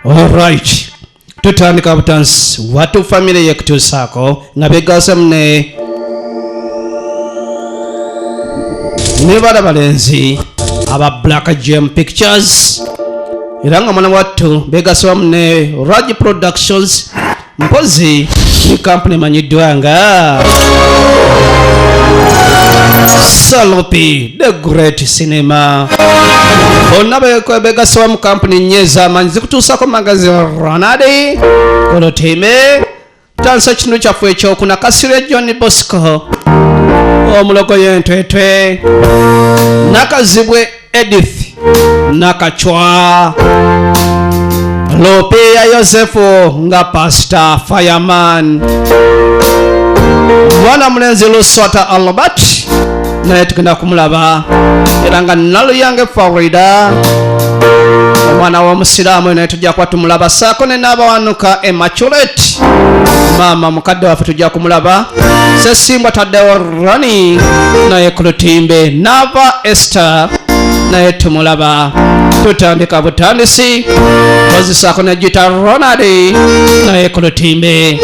Alright. Tutandika butansi watu famire yekutuusaako nga begasamu ne ne bala balenzi aba Black Gem Pictures era nga mwana wattu begasamu ne Raj Productions mpozi ne kampuni emanyiddwa nga salopi the great cinema bonna begasoba mu kampuni nnyo ez'amaanyi zikutuusako magazi ronald kolotime tansa kino kyaffe ekyokuna kasirwe john bosco omulogo yentwetwe nakazibwe Edith Nakachwa Lopia Yosefu nga Pastor Fireman mwana mulenzi Luswata Albert naye tugenda kumulaba era nga Naluyange Farida omwana w'omusiraamu naye tujja kuba tumulaba saako ne n'abawanuka emaculate maama mukadde waffe tujja kumulaba sesimbwa taddewo rani naye ku lutimbe nava ester naye tumulaba tutandika butandisi kozesako ne gita ronald naye ku lutimbe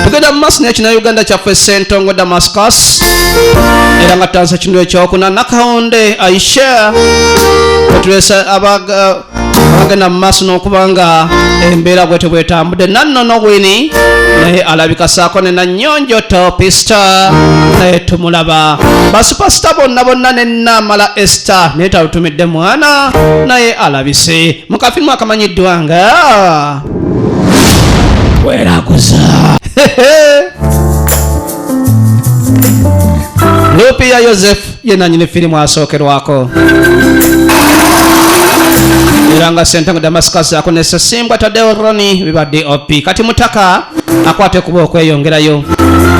tugenda mu maaso nekina uganda kyaffe sentongo damascus era nga tansa kino ekyokuna nakawunde aisha otulesa abaga agenda mu maaso n'okuba nga embeera bwe tebwetambudde nannono wini naye alabika saako ne nanyonjo topista naye tumulaba basupasita bonna bonna ne naamala esta naye talutumidde mwana naye alabise mu kafirimu akamanyiddwa nga weraguza lupiya yosefu ye nanyini firimu asookerwako era nga sentango damascus akonesa simbwa tadeo roni biba dop kati mutaka akwate kuba okweyongerayo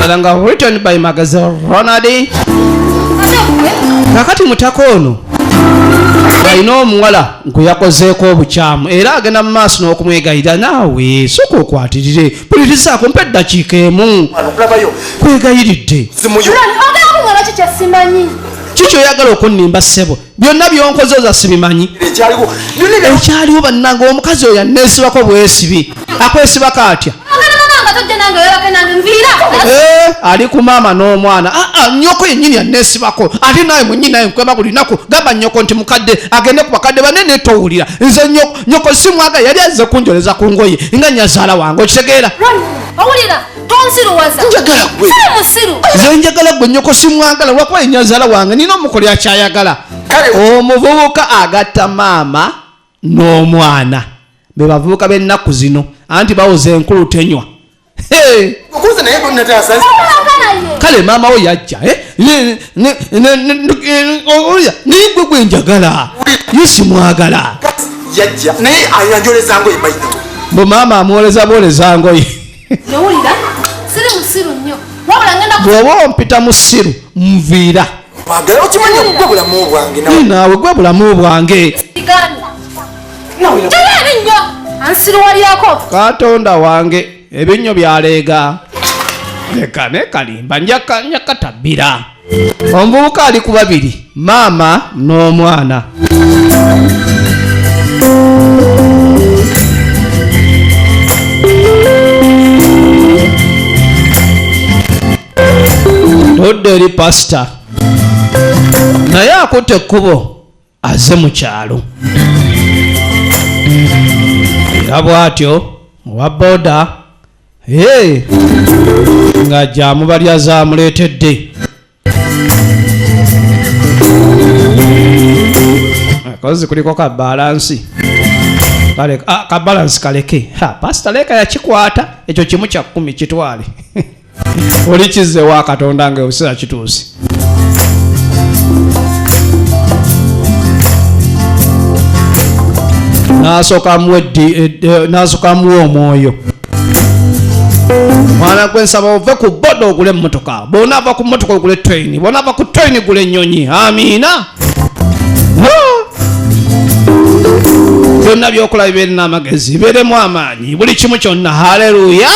era nga written by magaze ronald kakati mutaka ono alina omuwala gwe yakozeeko obukyamu era agenda mu maaso n'okumwegayira naawe soka okwatirire mpulirizaako mpa eddakiika emu kwegayiridde kiki oyagala okunnimba ssebo byonna byonkoze oza sibimanyi ekyaliwo bannanga omukazi oyo aneesibako bwesibi akwesibako atya Eh, ali ku maama n'omwana aa ah, ah, nyoko yenyini anesibako ate naye mwenyini naye nkwema buli naku gamba nyoko nti mukadde agende ku bakadde banene towulira nze nyoko nyoko simwaga yali aze kunjoleza ku ngoye nga nyazaala wange okitegeera zenjagala gwe nyoko simwagala lwakuba yenyazaala wange nina omukoli akyayagala omuvubuka agatta maama n'omwana bebavubuka b'ennaku zino anti bawoza enkulu tenywa kale maama wo yajja eh? naye gwe gwe njagala ye simwagala mbu maama amwoleza bwoleza ngoye bw'oba ompita musiru nviira Mwagala okimanyi gwe bulamu bwange nawe. Nawe gwe bulamu bwange. Katonda wange ebinnyo byaleega. Leka nekalimba njakatabbira. Omuvubuka ali ku babiri maama n'omwana. todda eri pasita naye akutte ekkubo aze mu kyalo era bw'atyo owa boda nga gyamubalya zamuleetedde akozi kuliko ka balansi ah, ka balansi kaleke pasita leeka yakikwata ekyo kimu kya kkumi kitwale oli kizze wa katonda nga ekiseera kituuse nasokamuwa omwoyo mwana gwe nsaba ove ku boda ogule emmotoka bona ava ku mmotoka ogule traini bona ava ku traini gula ennyonyi amiina byonna byokola bibeere n'amagezi bibeeremu amaanyi buli kimu kyonna haleluya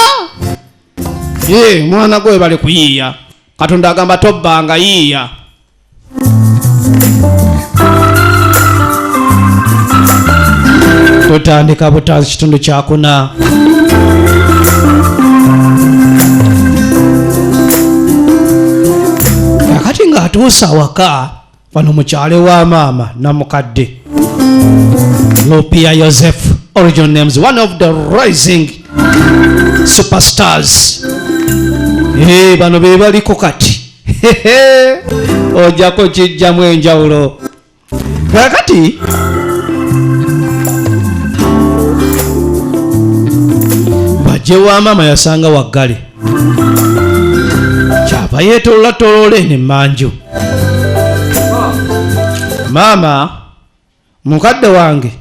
Yee, mwana gwe bale kuyiiya. Katonda agamba tobbanga yiiya. Tutandika butanzi kitundu kyakuna. Kakati ng'atuusa awaka. wano mukyale wa maama namukadde lupia yoseph original names one of the rising superstars hey, bano bebaliko kati ojako kijjamu enjawulo kakati bajje wa maama yasanga waggale kyava yeetolola toloola eno emmanju maama mukadde wange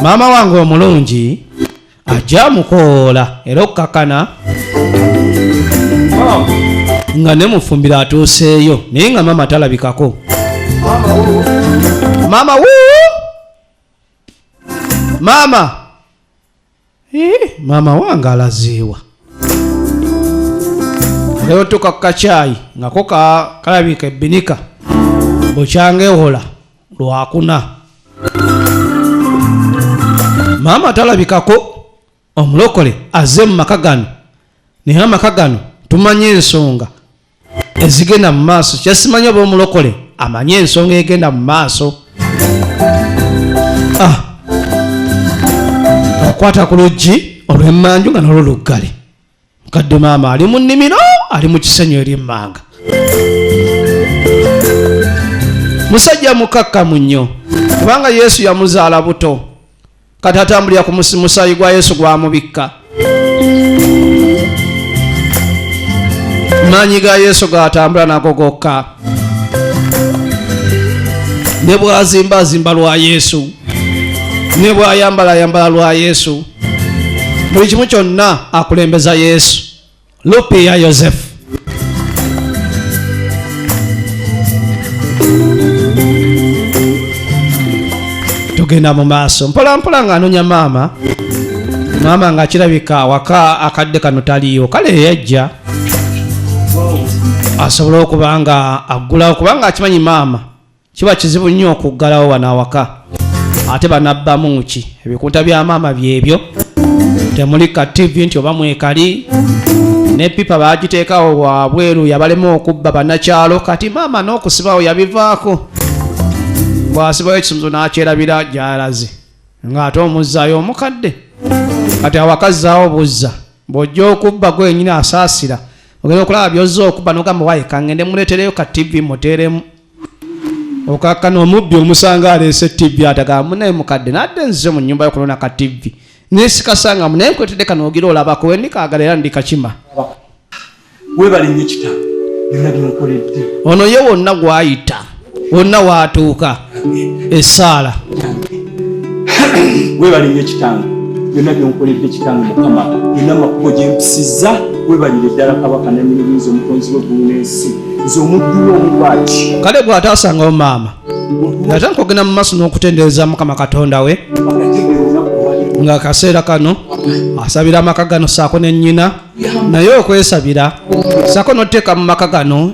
maama wange omulungi ajja mukoola era okukakana nga ne mufumbiro atuuseeyo naye nga maama talabikako maama wuu maama maama wange alaziiwa neotuka kukakyayi ngako kalabika ebinika bukyangewola lwakuna maama talabikako omulokole aze mumaka gano naye amaka gano tumanye ensonga ezigenda mu maaso kyasimanyi oba omulokole amanyi ensonga egenda mu maaso ah. okwata ku luggi olwemmanju nga nalwo luggale mukadde maama ali mu nnimiro ali mu kisenyu eri emmanga musajja mukakkamu nnyo kubanga yesu yamuzaala buto kati atambulira ku musaayi gwa yesu gwamubikka maanyi ga yesu gaatambula nago gokka ne bwazimba azimba lwa yesu ne bwayambala ayambala lwa yesu buli kimu kyonna akulembeza yesu Lupe ya Yosefu. Tugenda mu maaso mpola mpola nga anonya maama maama nga akirabika awaka akadde kano taliyo kale yeyajja asobole okuba nga aggulawo kubanga akimanyi maama kiba kizibu nnyo okuggalawo wano awaka ate banabbamu ki ebikunta bya maama byebyo temuli ka tv nti oba mwekali ne pipa bagiteekawo wabweru yabalema okubba banakyalo kati maama n'okusibawo yabivaako bwasibayo ekisumzo n'akyerabira gyalaze ng'ate omuzzaayo omukadde kati awakazzaawo buzza bw'ojja okubba gwenyini asaasira ogenda okulaba byozza okubba n'ogamba waye kangende muleetereyo ka tv muteeremu okakkana omubbi omusanga aleese ttivi atagamba munaye mukadde nadde nzize mu nnyumba yokulona ka ttivi nesikasanga munaye nkwetedde kano ogira olabako wendikaagala era ndikakima webale nyo kita byona byenkoledde ono ye wonna gwayita wonna waatuuka essaala webalire ekitange byonna byonkoledde ekitange mukama byonna amakubo gyempisiza webalire ddala kabaka nanyinibinza omutonzi weggulu n'ensi nze omudduwa omubwaki kale bw'ataasangawo maama ate nkogenda mu maaso n'okutendereza mukama katonda we nga akaseera kano asabira amaka gano saako ne nnyina naye okwesabira saako n'oteeka mu maka gano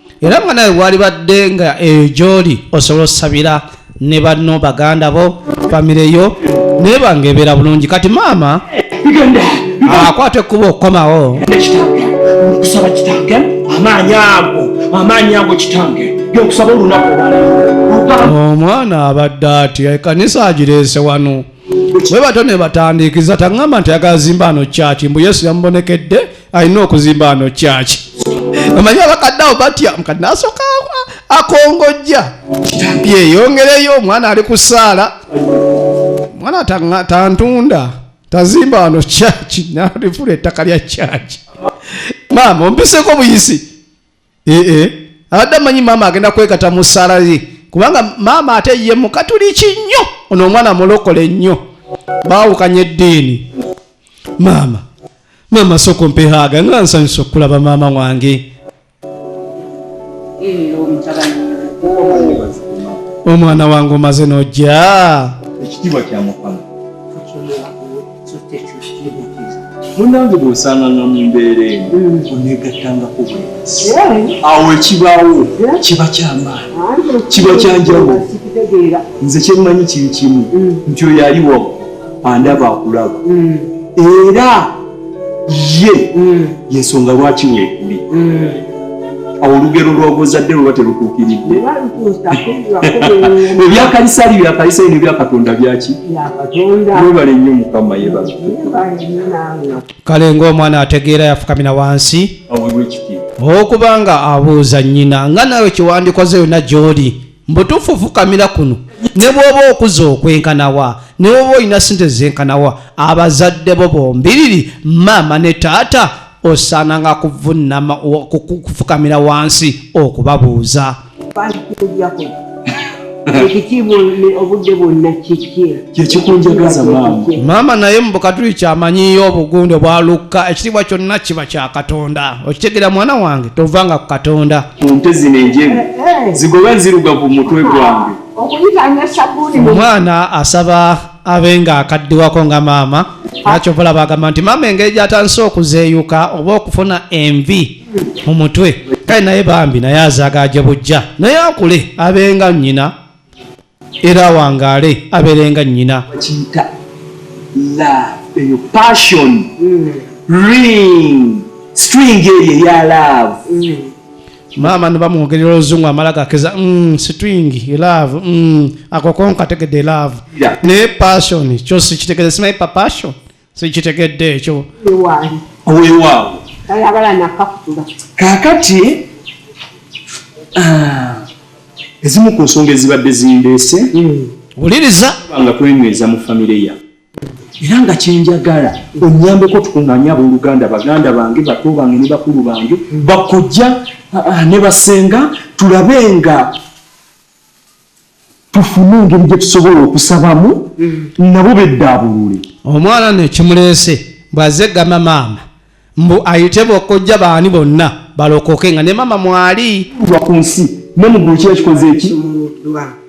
era nga nawe walibadde nga eyo gyoli osobola osabira ne banno baganda bo famire yo naye banga ebeera bulungi kati maama akwata ekkuba okukomawo okusaba kitange amaanyi ago amaanyi ago kitange yokusaba olunaku omwana abadde ati ekanisa agireese wano bwe batyo ne batandiikiza taŋŋamba nti ayagala zimba ano kyaki mbu yesu yamubonekedde alina okuzimba ano kyaki omanyi abakadde awo batya mukadde nasooka akongojja yeyongereyo omwana ali ku saala omwana tantunda tazimba wano kyaki nalifula ettaka lya kyaki maama ompiseko buyisi ee eh, eh. abadde amanyi maama agenda kwekata mu sala ye kubanga maama ate ye mukatuliki nnyo ono omwana mulokole nnyo baawukanya eddiini maama maama soko mpehaaga nga nsanyusa okulaba maama wange omwana wange omaze nojja ekitiibwa kya mukama munange bwosanganga mu mbeera eno onegattangako bwebasi awo ekibaawo kiba kyamaanyi kiba kyanjawo nze kyemmanyi kiri kimu mm. nti oyo ali wamu andaba akulaba mm. era ye mm. yensonga lwaki weekuli olugero lwobuzadde luba terutuukiridde ebyakalisali byakalisali nebyakatonda byaki webale nnyo mukama yebaze kale ngaomwana ategeera yafukamira wansi okubanga abuuza nyina nga nawe kyewandikoze yona gyoli mbutuufu fukamira kuno ne bwoba okuza okwenkanawa ne bwoba olina sente zenkanawa abazadde bo bombiriri maama ne taata osaananga kuvunama kufukamira wansi okubabuuza ekitiibwa obudde bwonna kiki kyekikunjagaza maama maama naye mubukatuli kyamanyiyo obugunde bwa lukka ekitiibwa kyonna kiba kya katonda okitegera mwana wange tovanga ku katonda kunte zino enjeru zigoba nziruga ku mutwe gwange omwana asaba abe nga akaddiwako nga maama nakyovola bagamba nti maama engeri gyatandise okuzeeyuka oba okufuna envi mu mutwe kale naye bambi naye azaagaaje bujja naye akule abenga nnyina era awangaale abeere nga nnyina kiyita love eyo passion mm. ring string eyo eya love mm. maama nibamwogerera oluzungu amala gakeza mm, string love mm, akokonka ategedde love naye passion kyosi kitegede simaye pa passion sikitegedde ekyo owewaawo kakati ah, ezimu ku nsonga ezibadde zindeese hmm. wuliriza nga kwenyweza mu famire ya era nga kyenjagala onyambeko tukunganye abooluganda baganda bange bato bange ne bakulu bange hmm. bakojja ah, ah, ne basenga tulabe nga tufune engeri gye tusobola okusabamu mm. nabo beddaabulule omwana no ekimuleese bw'azze gamba maama mbu ayite bokojja baani bonna balokoke nga ne maama mwali lwa ku nsi ne mu ggulu kiba kikoze eki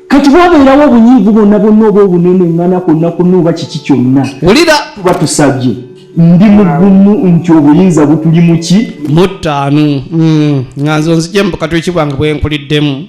kati bwabeerawo obunyiivu bwonna bwonna oba obunene ngana kwonna kwonna oba kiki kyonna wulira tuba tusabye ndi mugumu nti obuyinza butuli muki muttaanu mm. nga nzo nzijemu bukatwiki bwange bwenkuliddemu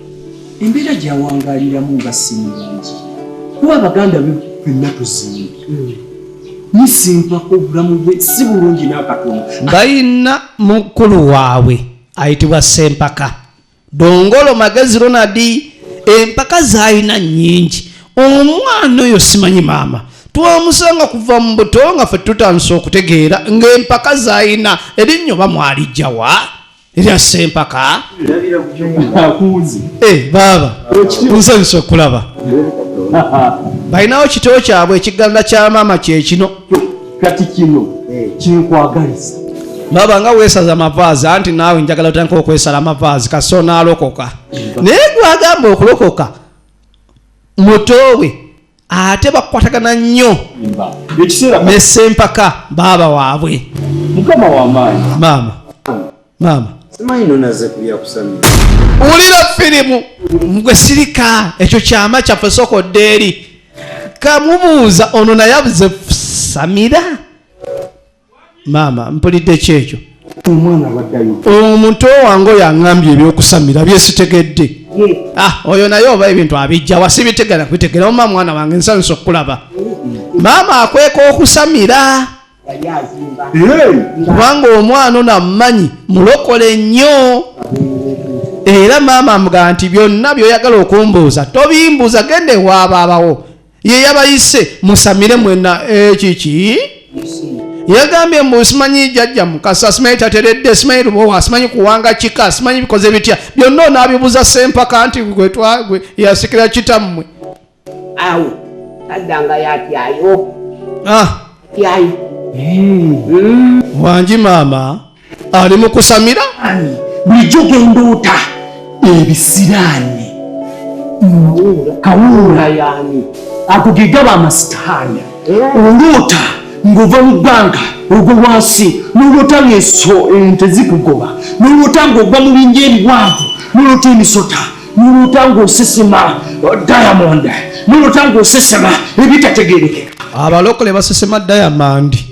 embeera gyawangaaliramu nga sinnungi kuba abaganda fenna tuzimbye nisimpako obulamu bwe si bulungi n'akatono balina mukulu waabwe ayitibwa sempaka dongolo magezi ronadi empaka zaalina nnyingi omwana oyo simanyi maama twamusanga kuva mu buto nga fe tutandise okutegeera ng'empaka zaalina erinnyo bamwalijjawa erya sempaka eh, baaba nsanyusa okulaba balinawo kito kyabwe ekiganza kya maama kyekino kati kino eh. kinkwagaliza baba nga wesaza amavaazi anti naawe njagala otandika okwesala amavaazi kasi onaalokoka naye gwagamba okulokoka mutoowe ate bakwatagana nnyo ne sempaka baaba waabwe maama maama wulira firimu gwe sirika ekyo kyama kyaffe sokodde eri kamubuuza ono naye abuze samira maama mpulidde ki ekyo omuntu owange oyo aŋambye ebyokusamira byesitegedde ah, oyo naye oba ebintu abijja wasibitegera kubitegera oma mwana wange nsanyusa okukulaba maama akweka okusamira kubanga omwana ono amumanyi mulokole nnyo era maama amugaa nti byonna byoyagala okumbuuza tobimbuuza genda ewabaabawo ye yabayise musamire mwena ekiki eh, yagambye mbu simanyi jajja mukasa simanyi tateredde simanyi lubowa simanyi kuwanga kika simanyi bikoze bitya byonna onaabibuza sempaka nti gwetwagwe yasikira kitammwe awo taddanga yatyayo ah. tyayo hmm. hmm. wangi maama ali mu kusamira bulijjo gendoota ebisiraani kawuula yani ago gegaba amasitaani oloota ng'ova mu bbanga ogwo wansi noloota ngaeso ente eh, zikugoba noloota ng'ogwa mu binja ebiwanvu noloota emisota noloota ng'osesema oh, diamond noloota ng'osesema ebitategerekeka abalokole basesema diamond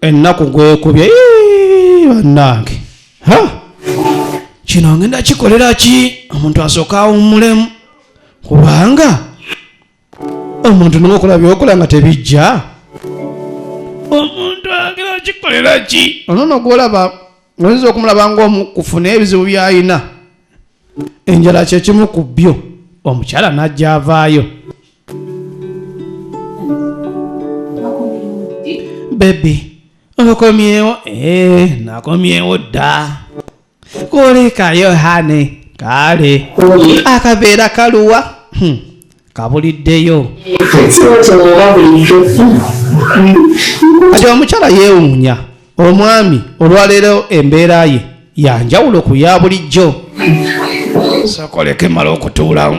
ennaku gwekubye bannange kino ngenda kikolera ki omuntu asooka awummulemu kubanga omuntu noma okola byokola nga tebijja omuntu agera kikolera ki onono gwolaba oyinza okumulaba ngaomu kufuna ebizibu byayina enjala kyekimu ku byo omukyala najja avaayo bebi okomyewo ee eh, nakomyewo dda kulikayo hane kale akabeera kaluwa hmm, kabuliddeyo kati omukyala yeewuunya omwami olwaleero embeera ye yanjawulo ku ya bulijjo sokoleke mala okutuulamu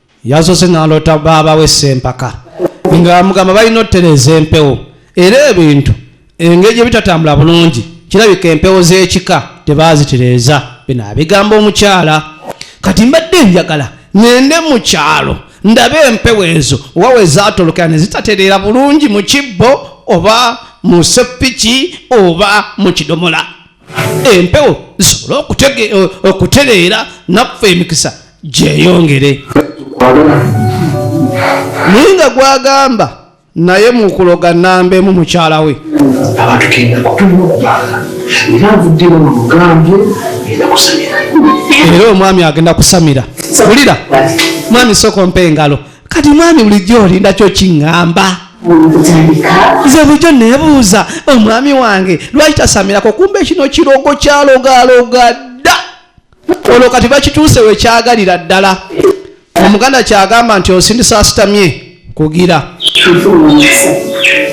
yasoose naloota baaba we sempaka nga mugamba balina otereeza empewo era ebintu engeri gye bitatambula bulungi kirabika empewo z'ekika tebaazitereeza bino abigamba omukyala kati mbadde njagala ngende mu kyalo ndabe empewo ezo oba we zaatolokera ne zitatereera bulungi mu kibbo oba mu seppiki oba mu kidomola empewo zisobole okutereera naffe emikisa gyeyongere naye nga gwagamba naye mukuloga namba emu mukyala we abantu kenda kutulina okubanga era nvuddemu mugambye enda kusamira era omwami agenda kusamira wulira mwami soko mpa engalo kati mwami bulijjo olindakyo kiŋŋamba nze bulijjo nebuuza omwami wange lwaki tasamirako kumba ekino kirogo kyalogaloga ono kati bakituuse wekyagalira ddala omuganda kyagamba nti osindisa asitamye kugira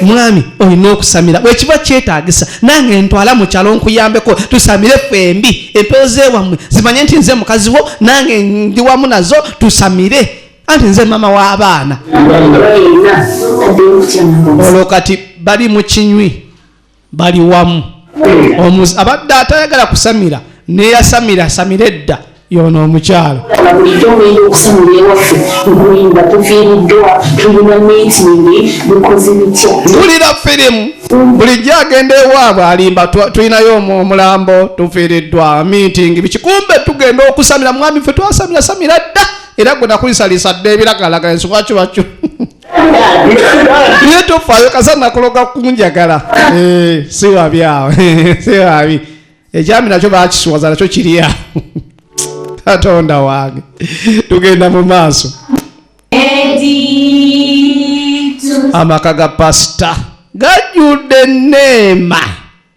mwami olina okusamira bwekiba kyetagisa nange ntwala mukyalo nkuyambeko tusamire fembi empewo zewammwe zimanye nti nze mukazi wo nange ndi wamu nazo tusamire anti nze mama w'abaana olwo kati bali mu kinywi bali wamu omuzi abadde atayagala kusamira neyasamira asamira edda yono omukyalo tulira firimu bulijjo agenda ewaabwe alimba tulinayo omulambo tufiiriddwa miitingi bikikumbe tugenda okusamira mwami fe twasamira samira dda era gwe nakulisaliisa dda ebiragalagala ensonga kibakyo naye tofaayo kasa nakuloga kunjagala eh, si wabi awo si wabi ekyami nakyo bakiswaza nakyo kiri awo katonda wange tugenda mu maaso amaka ga pasita gajjudde neema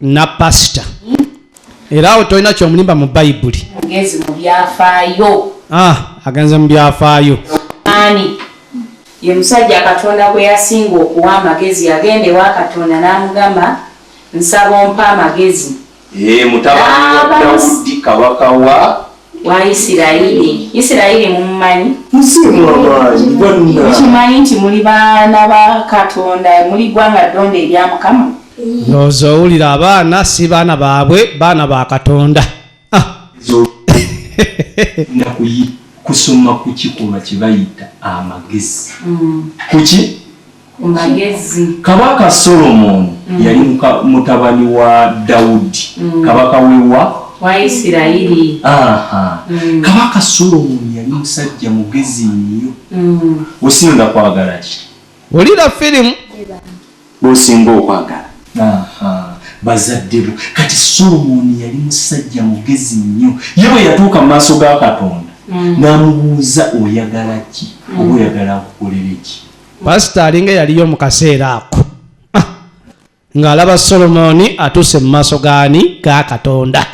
na pasita era awo tolina kyomulimba mu bayibuli agenze mu byafaayo ah, agenze mu byafaayo ani ye musajja katonda gwe yasinga okuwa amagezi yagenda ewa katonda n'amugamba nsaba ompa amagezi ye mutabani wa dawudi kabaka wa wa Isirayiri. Isirayiri mumumanyi? Musimu amaanyi bonna. Mukimanyi nti muli baana ba Katonda, muli ggwanga ddonde erya Mukama? Ndowooza owulira abaana si baana baabwe, baana ba Katonda. Ah. Kusoma kuki kuba kibayita amagezi. Mm. Kuki? Kabaka Solomoni mm. yali mutabani wa Dawudi mm. kabaka wewa Waisirayiri. Mm. Kabaka Solomoni yali musajja mugezi nnyo mm. osinga kwagala ki wulira firimu osinga okwagala bazadde bo kati Solomoni yali musajja mugezi nnyo ye bwe yatuuka mu maaso ga Katonda mm. n'amubuuza oyagala ki oba oyagala akukolere ki pasita alinga eyaliyo mu kaseera ako ah, ng'alaba solomooni atuuse mu maaso gaani ga katonda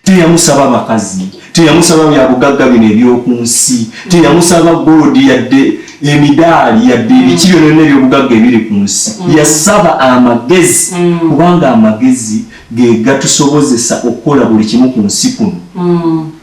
teyamusaba makazi teyamusaba byabugagga bino eby'oku nsi teyamusaba golodi yadde emidaali yadde mm. ebiki byonona ebyobugagga ebiri ku nsi mm. yasaba amagezi mm. kubanga amagezi ge gatusobozesa okukola buli kimu ku nsi kuno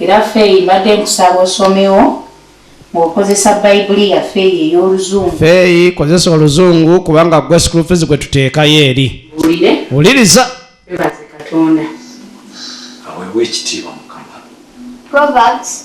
Era Feyi mbadde nkusaba osomewo ng'okozesa Bayibuli yaffe eyo ey'Oluzungu. Feyi kozesa Oluzungu kubanga gwe school fees gwe tuteekayo eri. Wulire. Wuliriza. Webaze Katonda. Aweebwe ekitiibwa Mukama. Proverbs.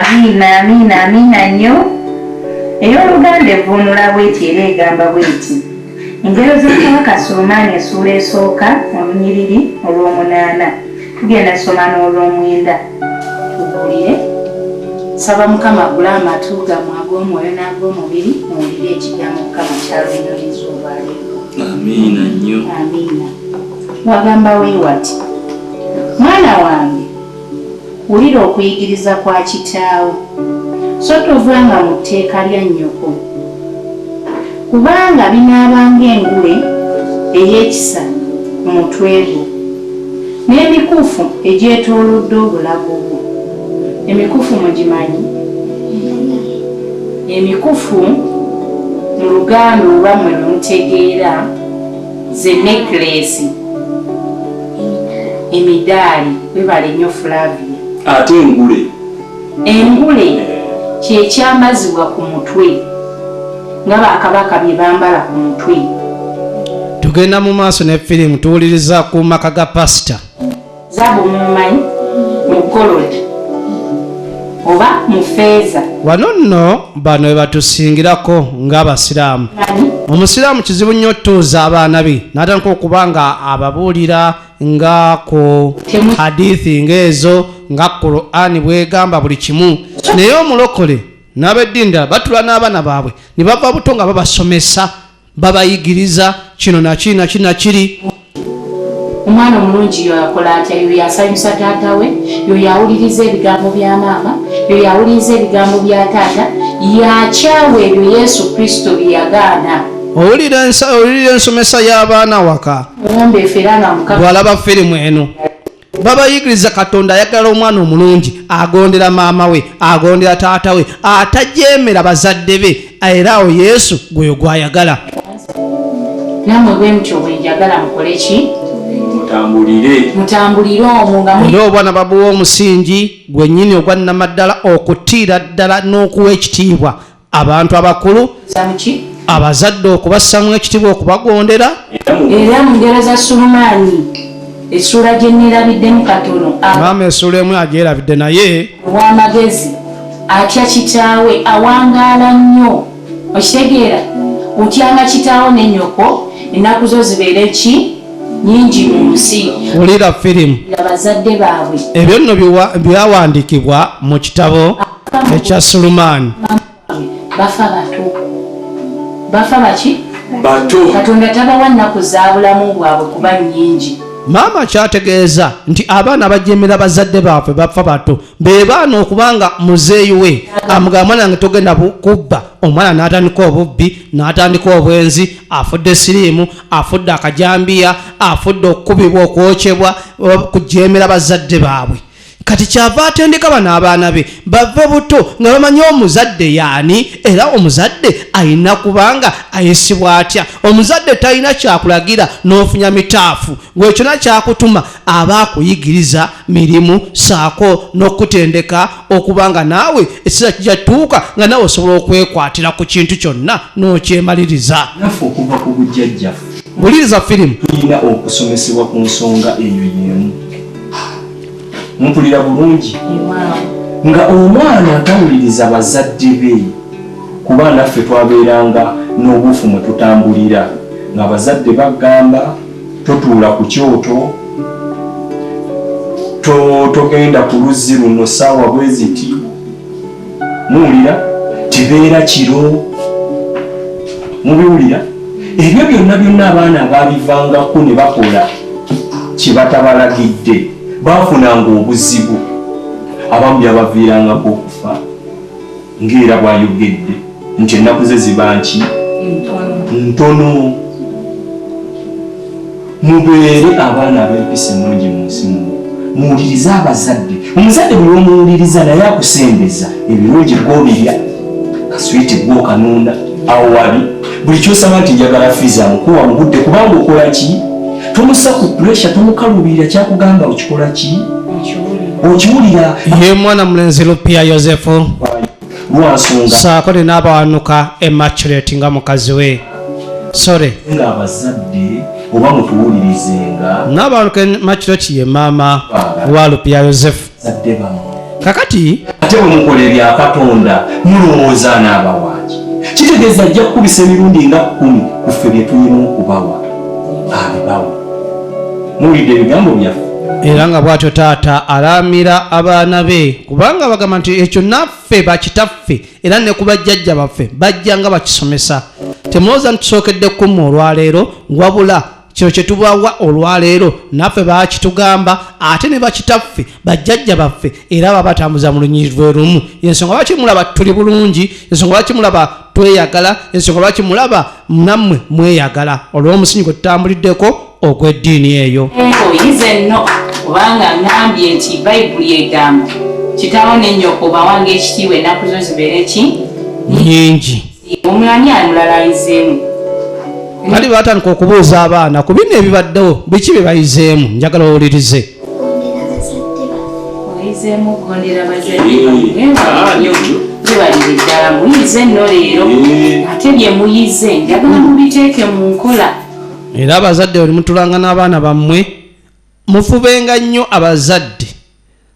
Amina, amina, amina nnyo. Ey'oluganda evvuunula bw'eti era egamba bw'eti. Engero z'okubaka Sulemaani essuula esooka olunyiriri olw'omunaana. Tugenda kusoma n'olwomwenda tuwulire. Saba Mukama agule amatu gamwe ag'omwoyo n'ag'omubiri muwulire ekigambo Mukama kyaluyiniriza olwaleero. Amiina nnyo. Amiina. Wagamba weewati, mwana wange wulira okuyigiriza kwa kitaawo, so tovanga mu tteeka lya nnyoko. Kubanga binaaba ng'engule ey'ekisa ku mutwe gwo, n'emikufu egyetoolodde obulago bwo. Emikufu mugimanyi? Emikufu mu Luganda oba mmwe bwe mutegeera ze neekileesi, emidaali. Weebale nnyo Flavia. Ate engule? Engule kye kyamazibwa ku mutwe nga bakabaka bye bambala ku mutwe. Tugenda mu maaso ne firimu tuwuliriza ku maka ga pasita. Zaabu mumumanyi mu golod oba mu feeza. Wano nno bano we batusingirako ng'Abasiraamu. Omusiraamu kizibu nnyo otuuza abaana be n'atandika okuba nga ababuulira. ngaako hadithi ngaezo nga qurani bwegamba buli kimu naye omulokole nabeddinda batula n'abaana baabwe ne bava buto nga babasomesa babayigiriza kino nakiri nakiri nakiri omwana omulungi yo akola atya yo yasanyusa taata we yo yawuliriza ebigambo bya maama yo yawuliriza ebigambo bya taata yakyawa ebyo yesu kristo byeyagaana owulira ensomesa y'abaana waka bwalaba firimu eno babayigiriza katonda ayagala omwana omulungi agondera maama we agondera taata we atajemera bazadde be era awo yesu gweyo gwayagala era obwana babuwa omusingi gwenyini ogwa namaddala okutiira ddala n'okuwa ekitiibwa abantu abakulu abazadde okubassamu ekitibwa okubagondera era mu ngero za sulumaani essuula gye nneerabiddemu katono maama essuula emu agyerabidde naye ow'amagezi atya kitaawe awangaala nnyo okitegeera otyanga kitaawo ne nyoko ennaku zo zibeere ki nyingi mu nsi wulira firimu abazadde baabwe ebyo nno byawandiikibwa mu kitabo ekya sulumaani bafa bato bafa baki bato katonda tabawa nnaku za bulamu bwabwe kuba nnyingi maama kyategeeza nti abaana bajemera bazadde baaffe bafa bato be baana okubanga muzeeyi we amugamba mwana yange togenda kubba omwana n'atandika obubbi n'atandika obwenzi afudde siriimu afudde akajambiya afudde okukubibwa okwokyebwa kujemera bazadde baabwe kati kyava atendeka bano abaana be bave buto nga bamanyi omuzadde yaani era omuzadde alina kubanga ayisibwa atya omuzadde talina kyakulagira n'ofunya mitaafu gwekyona kyakutuma aba akuyigiriza mirimu saako n'okutendeka okubanga naawe ekiseera kijja tuuka nga nawe osobola okwekwatira ku kintu kyonna n'okyemaliriza naffe okuva ku bujjajjaffe wuliriza firimu tulina okusomesebwa ku nsonga eyo yemu mpulira bulungi nga omwana atawuliriza bazadde be kuba naffe twabeeranga n'obuufu mwe tutambulira nga bazadde bagamba totuula ku kyoto togenda ku luzzi luno saawa bweziti muwulira tebeera kiro mubiwulira ebyo byonna byonna abaana abaabivangako ne bakola kye batabalagidde baafunanga obuzibu abamu byabaviirangako okufa ng'era bwayogedde nti ennaku ze ziba nki ntono mubeere abaana abempisa ennungi mu nsi muno muwulirize abazadde omuzadde buli omuwuliriza naye akusembeza ebirungi gwobirya kaswiti gwokanunda awo wali buli kyosaba nti njagala fiizi amukuwa mu budde kubanga okola ki tomusa ku puresha tomukaluubirira kyakugamba okikola ki okiwulira ye mwana mulenzi lupia yosefu saako nina abawanuka emaculate nga mukazi we sore nabawanuka emaculate ye maama wa lupya yosefu kakati ate bwemukola ebyakatonda mulowooza n'abawaki kitegeeza ajja kukubisa emirundi nga kumi kuffe byetulina okubawa abibawa muwulidde ebigambo byaffe era nga bwatyo taata alaamira abaana be kubanga bagamba nti ekyo naffe bakitaffe era ne ku bajjajja baffe bajja nga bakisomesa temulowooza ntusookedde kumu olwaleero wabula kino kyetubawa olwaleero naffe bakitugamba ate ne bakitaffe bajjajja baffe era babatambuza mu lunyiri lwe lumu ensonga lwaki mulaba tuli bulungi ensonga lwaki mulaba tweyagala ensonga lwaki mulaba nammwe mweyagala olw'omusinyi gwe tutambuliddeko ogw'eddiini eyo oyize nno kubanga ngambye nti bayibuli egamba kitaawo ne nnyoko bawange ekitiibwa ennaku zo zibeere ki nyingi omulani amulala ayizeemu kati batandika okubuuza abaana ku bino ebibaddewo biki bye bayizeemu njagala owulirize tubalire ddala muyize nno leero ate bye muyize njagala mubiteeke mu nkola era abazadde bwe mutulanga n'abaana bammwe mufubenga nnyo abazadde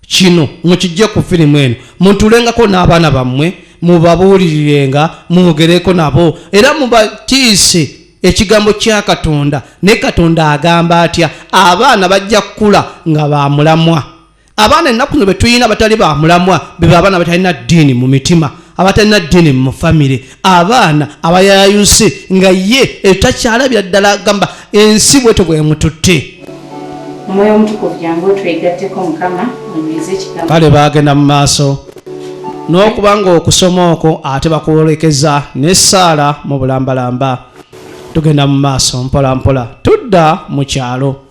Kino mukiggye ku firimu eno, mutuulengako n'abaana bammwe mubabuulirirenga, mwogereko nabo era mubatiise ekigambo kya Katonda. Naye Katonda agamba atya? Abaana bajja kukula nga ba mulamwa. Abaana ennaku zino be tulina abatali ba mulamwa be babaana abatalina ddiini mu mitima. abatalina ddini mu famire abaana abayayuse nga ye etakyalabira ddala agamba ensi bweto bwemututte omwoyo omutukuvu jangu otwegatteko mukama onyweze ekigambo kale baagenda mu maaso n'okuba ng'okusoma okwo ate bakwolekeza n'essaala mu bulambalamba tugenda mu maaso mpolampola tudda mu kyalo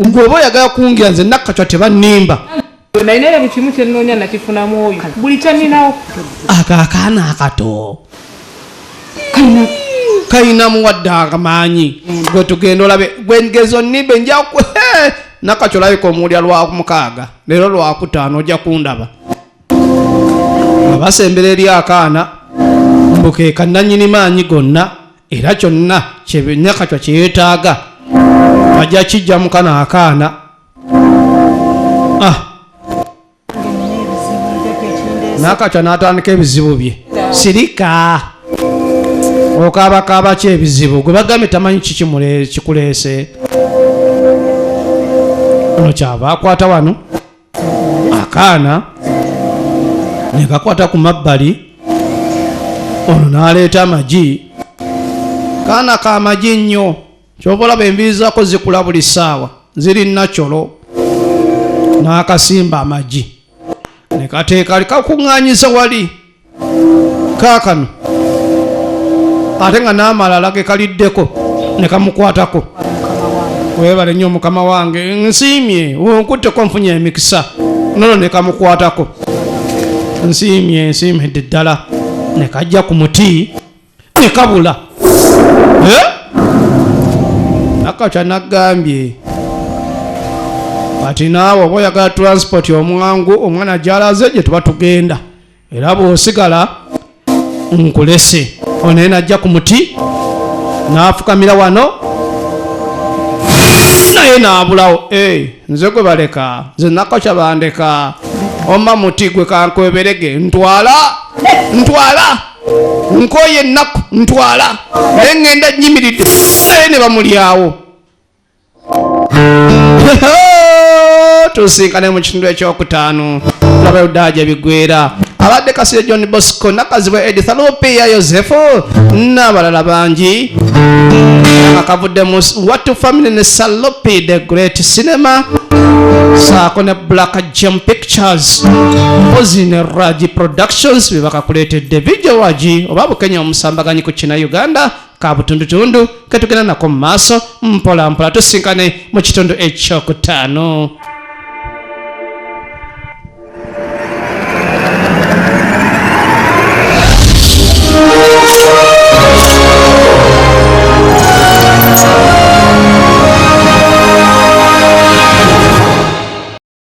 ng'oba oyagala kungira nze nakkacwa tebannimba nalina era buli kimu kyennoonya nakifunamu oyo buli kyanninawo ako akaana akato kalina muwadde amaanyi gwe tugenda olabe gwengezo nimbe njaku nakakyo olabika omuwulira lwamukaaga leero lwakutaano ojja kundaba abasembera eri akaana mbukeeka nanyini maanyi gonna era kyonna kyenyakatwa kyeyetaaga ajja kijja mukana akaana ah. nakatwa natandika ebizibu bye sirika okaabakaaba ki ebizibu gwe bagambye tamanyi kiki kikuleese ono kyava akwata wano akaana ne kakwata ku mabbali ono n'aleeta amagi kaana ka magi nnyo kyova olaba enviiri zako zikula buli ssaawa ziri nakyolo n'akasimba amagi ne kateeka likakuŋŋaanyiza wali kaakano ate nga n'amalala ge kaliddeko ne kamukwatako webale nnyo mukama wange nsiimye onkutteko nfunye emikisa nono ne kamukwatako nsiimye nsiimidde ddala ne kajja ku muti nekabula eh? nakakya nagambye kati naawe oba oyagala transport omwangu omwana gyalaze gye tuba tugenda era bwosigala nkulese onaye najja ku muti n'afukamira wano naye n'abulawo eh, nze gwe baleka nze nakakya bandeka oma muti gwe kankweberege ntwala ntwala nkooye ennaku ntwala naye ŋŋenda nnyimiridde naye ne bamulyawo tusinkane mu kitundu ekyokutaano laba yudaa gye bigwera abadde kasire john bosco nakazibwa edith alupiya yosefu n'abalala bangi akavudde mu watu family ne salopi the great cinema saako ne black jam pictures ozi ne raji productions bebaka akuleetedde bijjo wagi oba bukenya omusambaganyi ku kina uganda ka butundutundu ketugenda nako mu maaso mpola mpola tusinkane mu kitundu ekyokutaano